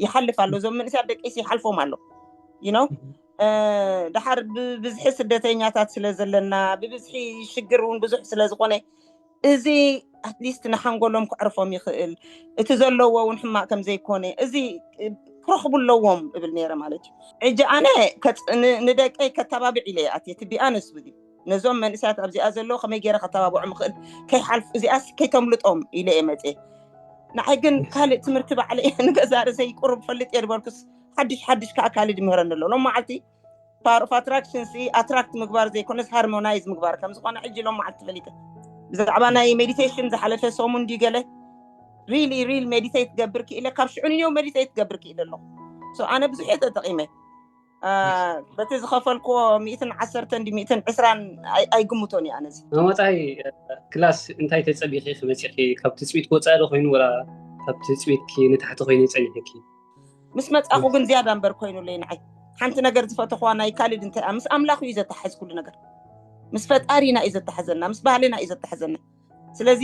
ይሓልፍ ኣሎ እዞም መንእስያት ደቂስ ይሓልፎም ኣሎ ዩ ነው ድሓር ብብዝሒ ስደተኛታት ስለ ዘለና ብብዝሒ ሽግር እውን ብዙሕ ስለ ዝኾነ እዚ ኣትሊስት ንሓንጎሎም ክዕርፎም ይኽእል እቲ ዘለዎ እውን ሕማቅ ከምዘይኮነ እዚ ክረኽቡ ኣለዎም እብል ነይረ ማለት እዩ ሕጂ ኣነ ንደቀይ ከተባብዕ ኢለ ይኣት እቲ ቢኣነስ ውዚ ነዞም መንእሰያት ኣብዚኣ ዘለዉ ከመይ ገይረ ከተባብዖም ይኽእል ከይሓልፍ እዚኣስ ከይተምልጦም ኢለ እየ መፅ ንዓይ ግን ካልእ ትምህርቲ ባዕለ እየ ንገዛ ርእሰይ ቁሩብ ፈልጥ እየ ዝበልኩስ ሓድሽ ሓድሽ ከዓ ካልእ ድምህረኒ ኣሎ ሎም መዓልቲ ፓወር ኦፍ ኣትራክሽን ሲ ኣትራክት ምግባር ዘይኮነስ ሃርሞናይዝ ምግባር ከም ዝኾነ ሕጂ ሎም መዓልቲ ፈሊጠ ብዛዕባ ናይ ሜዲቴሽን ዝሓለፈ ሰሙን ድዩ ገለ ሪሊ ሪል ሜዲቴት ገብር ክኢለ ካብ ሽዑ ንዮ ሜዲቴት ገብር ክኢለ ኣለኹ ኣነ ብዙሕ እየ ተጠቂመ በቲ ዝኸፈልክዎ ሚእትን ዓሰርተ እንዲ ሚእትን ዕስራን ኣይግምቶን እዩ ኣነዚ ናብ ወፃኢ ክላስ እንታይ ተፀቢኺ ክመፂኺ ካብ ትፅቢት ወፃኢ ዶ ኮይኑ ወላ ካብ ትፅቢትኪ ንታሕቲ ኮይኑ ፀኒሕኪ ምስ መፃኹ ግን ዝያዳ እምበር ኮይኑለይ ንዓይ ሓንቲ ነገር ዝፈተኽዋ ናይ ካልድ እንታይ ምስ ኣምላኽ እዩ ዘተሓዝ ኩሉ ነገር ምስ ፈጣሪና እዩ ዘተሓዘና ምስ ባህልና እዩ ዘተሓዘና ስለዚ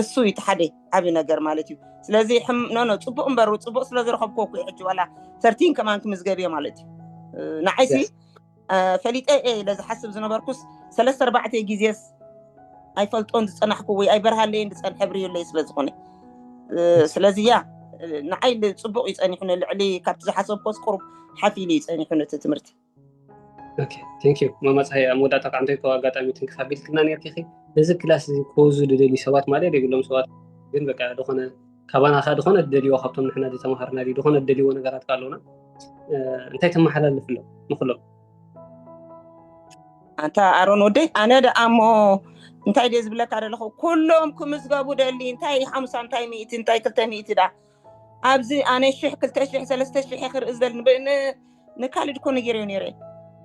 እሱ እዩ እቲ ሓደ ዓብ ነገር ማለት እዩ ስለዚ ኖኖ ፅቡቅ እምበሩ ፅቡቅ ስለ ዝረከብኩ ኩ ሕጂ ዋላ ተርቲን ከማን ክምዝገብዮ ማለት እዩ ንዓይሲ ፈሊጠ እየ ኢለ ዝሓስብ ዝነበርኩስ ሰለስተ ኣርባዕተ ግዜስ ኣይፈልጦን ዝፀናሕኩ ወይ ኣይበርሃለይን ዝፀንሐ ብርዩለይ ስለ ዝኾነ ስለዚ ያ ንዓይ ፅቡቅ እዩ ፀኒሑኒ ልዕሊ ካብቲ ዝሓሰብኮስ ቁሩብ ሓፍ ኢሉ እዩ ፀኒሑኒ እቲ ትምህርቲ ኦኬ ቴንክ ዩ ማማ ፀሓይ ኣብ መወዳእታ ከዓ እንተይኮ ኣጋጣሚ ትንክፍ ኣቢልክና ነርቲኺ ነዚ ክላስ እዚ ክወዙ ዝደልዩ ሰባት ማለት የብሎም ሰባት ግን በቃ ዝኾነ ካባና ከዓ ዝኾነ ዝደልይዎ ካብቶም ንሕና ዝተምሃርና ድዩ ዝኾነ ዝደልይዎ ነገራት ከዓ ኣለውና እንታይ ተመሓላልፍ ኣሎ ንኩሎም ኣንታ ኣሮን ወደይ ኣነ ደኣ እሞ እንታይ ድየ ዝብለካ ዘለኹ ኩሎም ክምዝገቡ ደሊ እንታይ ሓሙሳ እንታይ ሚእቲ እንታይ ክልተ ሚእቲ ደኣ ኣብዚ ኣነ ሽሕ ክልተ ሽሕ ሰለስተ ሽሕ ክርኢ ዝደል ንካልድ ኮ ነጊረዮ ነይረ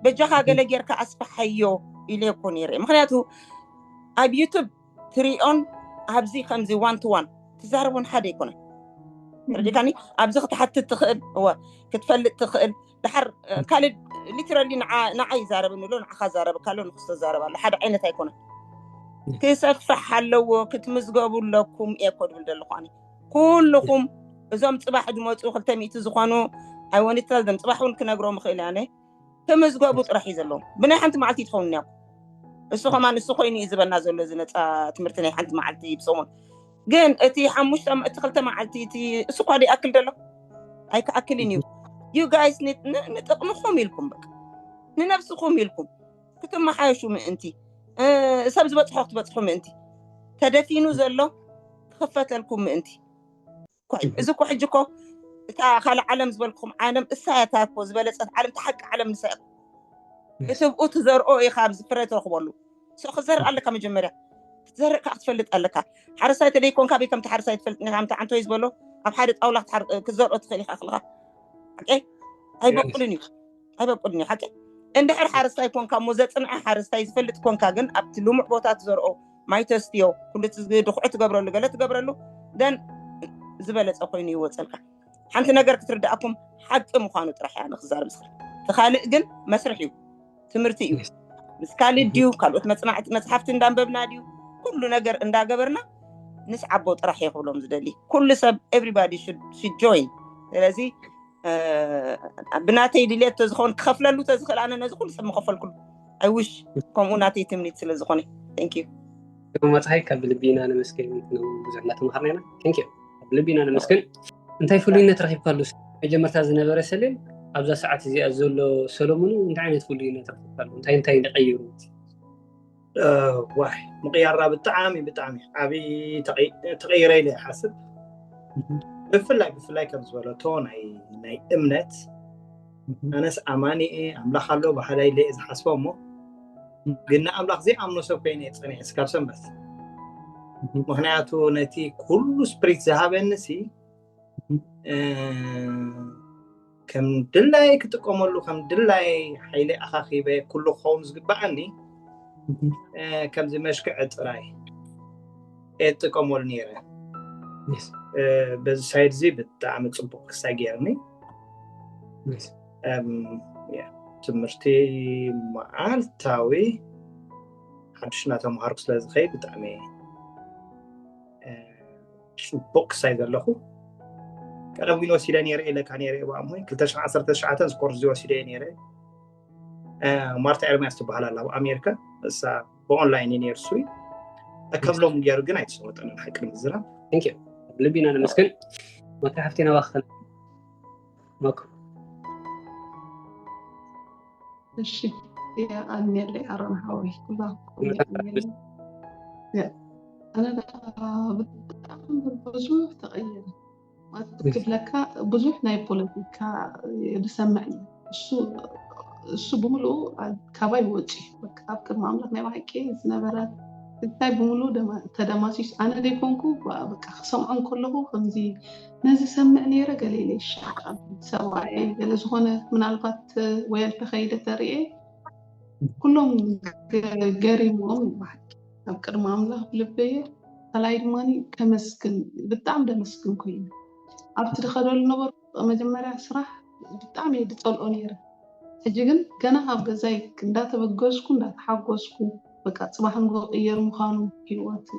በጃኻ ገለ ጌርካ ኣስፋሓዮ ኢለ ኮ ነይረ ምክንያቱ ኣብ ዩቱብ ትሪኦን ኣብዚ ከምዚ ዋን ቱ ዋን ትዛረቦን ሓደ ኣይኮነ ርዲካኒ ኣብዚ ክትሓትት ትኽእል እወ ክትፈልጥ ትኽእል ድሓር ካልድ ሊትራሊ ንዓ ይዛረብኒ ኣሎ ንዓካ ዛረብካ ኣሎ ንክስ ተዛረብ ኣሎ ሓደ ዓይነት ኣይኮነ ክሰፍሕ ኣለዎ ክትምዝገቡ ኣለኩም እየ ኮ ድብል ዘለኹ ኩልኹም እዞም ፅባሕ ዝመፁ ክልተ ሚእቲ ዝኾኑ ኣይወኒትታ ዘም ፅባሕ እውን ክነግሮም ይኽእል ያነ ክምዝገቡ ጥራሕ እዩ ዘለዎም ብናይ ሓንቲ መዓልቲ ትኸውን እያ እሱ ከማ ንሱ ኮይኑ እዩ ዝበና ዘሎ እዚ ነፃ ትምህርቲ ናይ ሓንቲ መዓልቲ ብሰሙን ግን እቲ ሓሙሽተ እቲ ክልተ መዓልቲ እቲ እሱ ኳ ይኣክል ደሎ ኣይክኣክልን እዩ ዩ ጋይስ ንጥቕምኹም ኢልኩም በቃ ንነብስኹም ኢልኩም ክትመሓየሹ ምእንቲ ሰብ ዝበፅሖ ክትበፅሑ ምእንቲ ተደፊኑ ዘሎ ክኽፈተልኩም ምእንቲ እዚ እኮ ሕጂ እኮ እታ ካልእ ዓለም ዝበልኩም ዓለም እሳያታ እኮ ዝበለፀት ዓለም ተሓቂ ዓለም ንሳ እትብኡ ትዘርኦ ኢኻ ኣብዚ ፍረ ትረኽበሉ ሶ ክዘርእ ኣለካ መጀመርያ ክትዘርእ ከዓ ክትፈልጥ ኣለካ ሓረሳይ ተደይ ኮንካ በይ ከምቲ ሓረሳይ ትፈልጥ ኒካ ከምቲ ዓንተወይ ዝበሎ ኣብ ሓደ ጣውላ ክትዘርኦ ትኽእል ኢኻ ክልካ ኣይበቁልን እዩ ኣይበቁልን እዩ ሓቂ እንድሕር ሓረስታይ ኮንካ እሞ ዘፅንዐ ሓረስታይ ዝፈልጥ ኮንካ ግን ኣብቲ ልሙዕ ቦታ ትዘርኦ ማይ ተስትዮ ኩሉ ድኩዑ ትገብረሉ ገለ ትገብረሉ ደን ዝበለፀ ኮይኑ ይወፀልካ ሓንቲ ነገር ክትርዳእኩም ሓቂ ምኳኑ ጥራሕ እያ ንክዛርብ ዝኽእል እቲ ካልእ ግን መስርሕ እዩ ትምህርቲ እዩ ምስ ካልእ ድዩ ካልኦት መፅናዕቲ መፅሓፍቲ እንዳንበብና ድዩ ኩሉ ነገር እንዳገበርና ንስዓቦ ጥራሕ እየ ክብሎም ዝደሊ ኩሉ ሰብ ኤቭሪባዲ ሹድ ጆይን ስለዚ ብናተይ ድሌት ተዝኸውን ክኸፍለሉ ተዝኽእል ኣነ ነዚ ኩሉ ሰብ ምኸፈልኩሉ ኣይውሽ ከምኡ ናተይ ትምኒት ስለ ዝኾነ ንዩ ግርማ ፀሓይ ካብ ልቢ ኢና ነመስግን ብዙሕ እናተምሃርና ኢና ንዩ ካብ ልቢ ኢና ነመስግን እንታይ ፍሉይነት ረኪብካሉ መጀመርታ ዝነበረ ሰሌን ኣብዛ ሰዓት እዚኣ ዘሎ ሰለሙን እንታይ ዓይነት ፍሉይነት ረኪብካሉ እንታይ እንታይ ንቀይሩ ዋይ ምቕያራ ብጣዕሚ ብጣዕሚ ዓብዪ ተቐይረ ኢለ ይሓስብ ብፍላይ ብፍላይ ከም ዝበለቶ ናይ እምነት ኣነስ ኣማኒ እየ ኣምላኽ ኣሎ ባህላይ ኢለ ዝሓስቦ እሞ ግን ንኣምላኽ ዘይኣምኖ ሰብ ኮይነ እየ ፀኒሐ ስካብ ሰንበት ምክንያቱ ነቲ ኩሉ ስፕሪት ዝሃበኒ ሲ ከም ድላይ ክጥቀመሉ ከም ድላይ ሓይሊ ኣኻኺበ ኩሉ ክኸውን ዝግባኣኒ ከምዚ መሽክዐ ጥራይ እጥቀመሉ ነይረ በዚ ሳይድ እዚ ብጣዕሚ ፅቡቅ ክሳይ ገይርኒ ትምህርቲ መዓልታዊ ሓድሽ እናተምሃርኩ ስለዝኸይ ብጣዕሚ ፅቡቅ ክሳይ ዘለኹ ቀደም ዊን ወሲደ ነይረ ኢለካ ነይረ ባእሞ 219 ስኮርዚ ወሲደ ነይረ ማርታ ኤርሚያስ ትበሃል ኣላ ኣብ ኣሜሪካ እሳ ብኦንላይን እዩ ነይሩ ስዊ ከም ሎም ገይሩ ግን ኣይተሰወጠንን ሓቂ ንምዝራብ ልቢና ነመስግን መታ ሓፍቴና ባክተን መክሩ እሺ የኣልኔለ ኣሮን ሓወይ ኩላኩም የኣልኔለ ኣነ ብጣዕሚ ብዙ ተቐየረ ክብለካ ብዙሕ ናይ ፖለቲካ ዝሰምዕ እዩ እሱ እሱ ብምሉኡ ካባይ ወፂ ኣብ ቅድሚ ኣምላኽ ናይ ባሓቂ ዝነበረ እንታይ ብምሉኡ ተደማሲስ ኣነ ዘይኮንኩ በቃ ክሰምዖ ከለኹ ከምዚ ነዚ ሰምዕ ነይረ ገለ ኢለ ይሻሓጣሉ ሰብኣየይ ገለ ዝኾነ ምናልባት ወይ ኣልተኸይደ ተርእየ ኩሎም ገሪሞም ይባሃል ኣብ ቅድሚ ኣምላኽ ብልበየ ካልኣይ ድማ ከመስግን ብጣዕሚ ደመስግን ኮይኑ ኣብቲ ድኸደሉ ነበሩ መጀመርያ ስራሕ ብጣዕሚ እየ ድፀልኦ ነይረ ሕጂ ግን ገና ካብ ገዛይ እንዳተበገዝኩ እንዳተሓጎስኩ በቃ ጽባሕ ንግሆ ክቕየር ምዃኑ ህይወት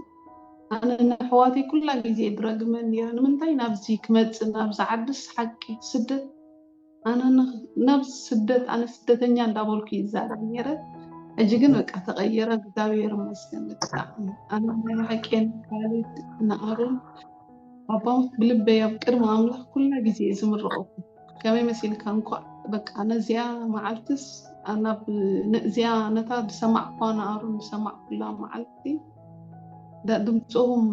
ኣነ ንኣሕዋተይ ኩላ ግዜ ድረግመን ነይረ ንምንታይ ናብዚ ክመጽእ ናብዚ ዓድስ ሓቂ ስደት ኣነ ናብዚ ስደት ኣነ ስደተኛ እንዳበልኩ ይዛረብ ነይረ ሕጂ ግን በቃ ተቐየረ እግዚኣብሔር ይመስገን ብጣዕሚ ኣነ ናይ ብሓቂ ንኣሮን ኣባውት ብልበይ ኣብ ቅድሚ ኣምላኽ ኩላ ግዜ ዝምርቐኩም ከመይ መሲልካ እንኳዕ በቃ ነዚያ መዓልትስ ናብ ነዚያ ነታ ዝሰማዕኳ ንኣሩን ዝሰማዕኩላ መዓልቲ ድምፆም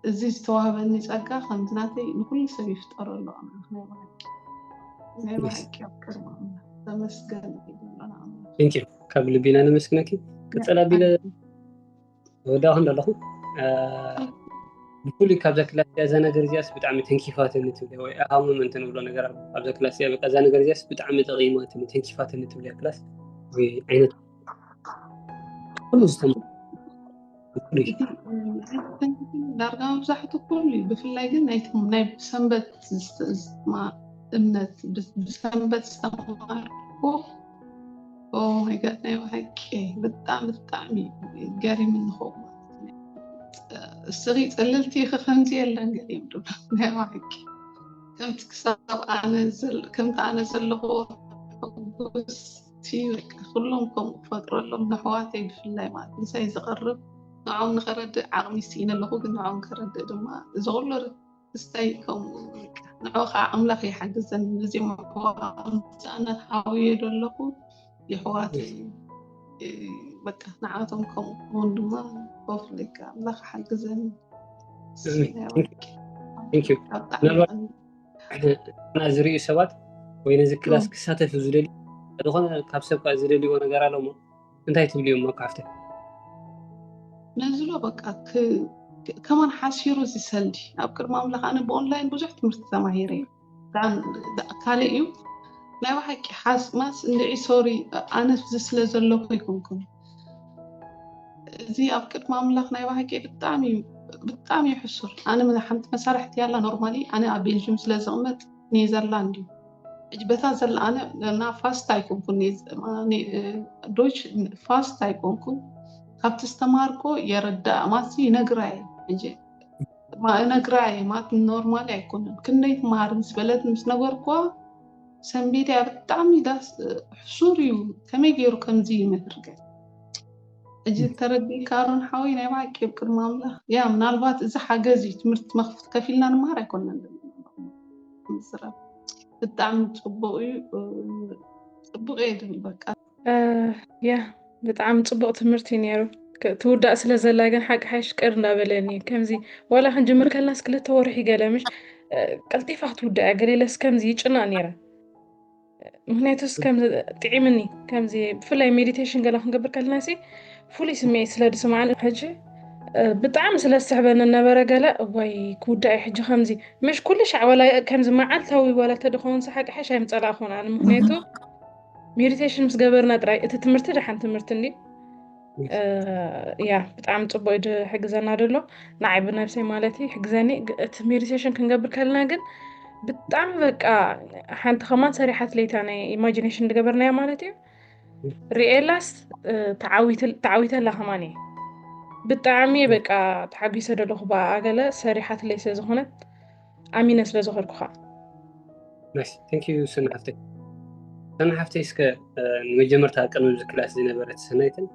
እዚ ዝተዋህበኒ ፀጋ ከምዚ ናተይ ንኩሉ ሰብ ይፍጠሮ ኣሎ ናይ ብሓቂ ኣብ ቅድሚ ኣምላኽ ተመስገን ይብለና ኣምላኽ ካብ ልቢና ነመስግነኪ ቅፅል ኣቢለ ወዳእ ክንዶ ኣለኹ ብፍሉይ ካብዛ ክላስ እዚኣ እዛ ነገር እዚኣስ ብጣዕሚ ተንኪፋትኒ ትብለ ወይ ኣሃምም እንትንብሎ ነገር ኣብዛ ክላስ እዚኣ በቃ እዛ ነገር እዚኣስ ብጣዕሚ ጠቂማትኒ ተንኪፋትኒ ትብለ ክላስ ወይ ዓይነት ኩሉ ዝተማ ዳርጋ መብዛሕትኡ ኩሉ እዩ ብፍላይ ግን ናይቶም ናይ ብሰንበት እምነት ብሰንበት ዝተማሃርኩ ኦማይጋድ ናይ ባሓቂ ብጣዕሚ ብጣዕሚ ገሪም ንኸው ስሪ ፅልልቲ ኸ ከምዚ የለን ገሪም ዶ ናይ ባሓቂ ከምቲ ክሳብ ከምቲ ኣነ ዘለኹ ሕጉስቲ በቃ ኩሎም ከምኡ ክፈጥረሎም ንሕዋተይ ብፍላይ ማለት ምሳይ ዝቐርብ ንዖም ንኸረድእ ዓቕሚ ስኢነ ኣለኹ ግን ንዖም ከረድእ ድማ እዚ ኩሉ እሰይ ከምኡ ንዑ ከዓ ኣምላኽ ይሓግዘን ነዚ ምዕዋምፃእነት ሃውየ ዶ ኣለኹ ይሕዋት በቃ ንዓቶም ከምኡ ክኸውን ድማ ኮፍለካ ኣምላኽ ሓግዘን እና ዝርእዩ ሰባት ወይ ነዚ ክላስ ክሳተፍ ዝደልዩ ዝኾነ ካብ ሰብ ዝደልይዎ ነገር ኣለሞ እንታይ ትብልዩ እሞ ካብተ ነዝሎ በቃ ከማን ሓሲሩ እዚ ሰልዲ ኣብ ቅድሚ ኣምላኽ ኣነ ብኦንላይን ብዙሕ ትምህርቲ ተማሂረ እዩ ካልእ እዩ ናይ ባሓቂ ሓስማስ እንድዒ ሶሪ ኣነ እዚ ስለ ዘለኹ ይኩንኩም እዚ ኣብ ቅድሚ ኣምላኽ ናይ ባሓቂ ብጣዕሚ እዩ ብጣዕሚ እዩ ሕሱር ኣነ ሓንቲ መሳርሕቲ ያላ ኖርማሊ ኣነ ኣብ ቤልጅም ስለ ዝቕመጥ ኔዘርላንድ እዩ። እጅ በታ ዘላኣነ ና ፋስት ኣይኮንኩ ዶች ፋስት ኣይኮንኩ ካብቲ ዝተማርኮ የረዳእ ማሲ ይነግራየ እጅ ነግራየ ማት ኖርማሊ ኣይኮነን ክንደይ ትመሃር ምስ በለት ምስ ነገርኳ ሰንቤድያ ብጣዕሚ ዳስ ሕሱር እዩ ከመይ ገይሩ ከምዚ ይምህር ገ እጅ ተረዲእካ ኣሮን ሓወይ ናይ ብሓቂ ኣብ ቅድሚ ኣምላኽ ያ ምናልባት እዚ ሓገዝ እዩ ትምህርቲ መኽፍት ከፊልና ንመሃር ኣይኮነን ምስራብ ብጣዕሚ ፅቡቅ እዩ ፅቡቅ እየ ድብል በቃ ያ ብጣዕሚ ፅቡቅ ትምህርቲ እዩ ነይሩ ትውዳእ ስለ ዘላ ግን ሓቂ ሓይሽ ቅር እንዳበለኒ ከምዚ ዋላ ክንጅምር ከለናስ ክልተ ወርሒ ገለ ምሽ ቀልጢፋ ክትውዳእ እያ ገሌለስ ከምዚ ይጭናቅ ነይረ ምክንያቱስ ጥዒምኒ ከምዚ ብፍላይ ሜዲቴሽን ገለ ክንገብር ከለና ሲ ፍሉይ ስምዒት ስለ ዝስማዕኒ ሕጂ ብጣዕሚ ስለ ዝስሕበኒ ነበረ ገለ ወይ ክውዳእ እዩ ሕጂ ከምዚ ምሽ ኩሉ ሻዕ ወላ ከምዚ መዓልታዊ ወላ ተደኸውን ሰሓቂ ሓሽ ኣይምፀላእ ክኾን ኣነ ምክንያቱ ሜዲቴሽን ምስ ገበርና ጥራይ እቲ ትምህርቲ ደሓን ትምህርቲ እንዲ ያ ብጣዕሚ ፅቡቅ ዩ ዝሕግዘና ደሎ ንዓይ ብነብሰይ ማለት ዩ ሕግዘኒ እቲ ሜዲቴሽን ክንገብር ከለና ግን ብጣዕሚ በቃ ሓንቲ ከማን ሰሪሓት ለይታ ናይ ኢማጂኔሽን ዝገበርናያ ማለት ዩ ሪኤላስ ተዓዊተላ ከማን እየ ብጣዕሚ በቃ ተሓጒሰ ደለኹ ብኣገለ ሰሪሓት ለይ ስለዝኾነት ኣሚነ ስለ ዘኸርኩኻ ናይስ ታንኪዩ ሰና ሓፍተይ ሰና ሓፍተይ እስከ ንመጀመርታ ቅድሚ እዚ ክላስ ዝነበረት ሰናይትን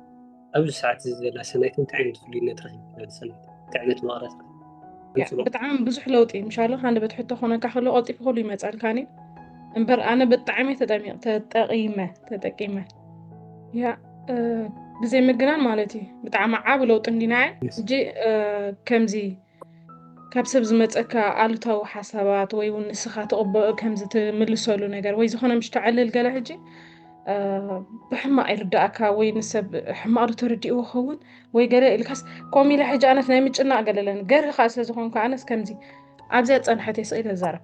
ኣብዚ ሰዓት እዚ ዘላ ሰናይትን እንታይ ዓይነት ፍሉይነት ረኪብካ ሰናይት እንታይ ዓይነት መቕረት ብጣዕሚ ብዙሕ ለውጢ ምሻሎ ሃንደበት ሕቶ ኮነካ ከሎ ቀልጢፉ ከሉ ይመፃልካኒ እምበር ኣነ ብጣዕሚ ተጠቂመ ተጠቂመ ያ ብዘይ ምግናን ማለት እዩ ብጣዕሚ ዓብ ለውጢ እንዲና ሕጂ ከምዚ ካብ ሰብ ዝመጸካ ኣሉታዊ ሓሳባት ወይ እውን ንስኻ ትቕበ ከምዚ ትምልሰሉ ነገር ወይ ዝኾነ ምሽ ተዕልል ገለ ሕጂ ብሕማቕ ይርዳእካ ወይ ንሰብ ሕማቕ ዶ ተረዲእዎ ኸውን ወይ ገለ ኢልካስ ከምኡ ኢለ ሕጂ ኣነስ ናይ ምጭናቕ ገለለን ገርህኻ ስለ ዝኾንኩ ኣነስ ከምዚ ኣብዚያ ጸንሐት የስኢለ ዛረብ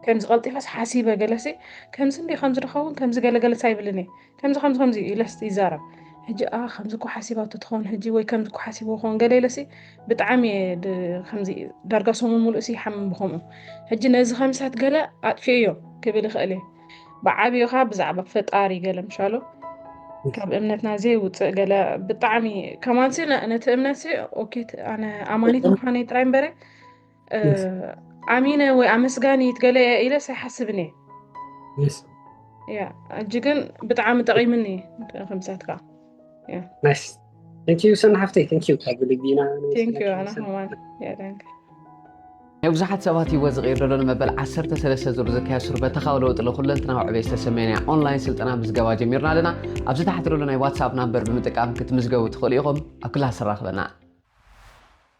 ከምዚ ቀልጢፈስ ሓሲበ ገለሲ ከምዚ እንድዩ ከምዚ ድኸውን ከምዚ ገለ ገለስ ኣይብልን እየ ከምዚ ከምዚ ከምዚ ኢለስ ይዛረብ ሕጂ ኣ ከምዚ እኮ ሓሲባቶ ትኸውን ሕጂ ወይ ከምዚ እኮ ሓሲብዎ ክኸውን ገለ ኢለሲ ብጣዕሚ እየ ከምዚ ዳርጋ ሰሙን ሙሉእሲ ይሓምም ብከምኡ ሕጂ ነዚ ከምሳት ገለ ኣጥፊኦዮ ክብል ይኽእል እየ ብዓብዩ ኸዓ ብዛዕባ ፈጣሪ ገለ ምሻሎ ካብ እምነትና ዘይውፅእ ገለ ብጣዕሚ ከማንሲ ነቲ እምነትሲ ኦኬ ኣነ ኣማኒት ምዃነይ ጥራይ እምበረ ኣሚነ ወይ ኣመስጋኒት ገለ እየ ኢለስ ኣይሓስብን እየ ያ እጂ ግን ብጣዕሚ ጠቂምኒ ከምሳትካ ናይስ ቴንኪዩ ሰና ሓፍተይ ቴንኪዩ ካብ ልቢ ኢና ናይ ብዙሓት ሰባት ህይወት ዝቕይር ዘሎ ንመበል 13 ዙር ዝካየድ ሱርበተኻዊ ለውጢ ንኩለንትናዊ ዕቤት ዝተሰመየና ኦንላይን ስልጠና ምዝገባ ጀሚርና ኣለና ኣብዚ ታሕቲ ዘሎ ናይ ዋትሳፕ ናምበር ብምጥቃም ክትምዝገቡ ትኽእሉ ኢኹም ኣብ ክላስ ራኽበና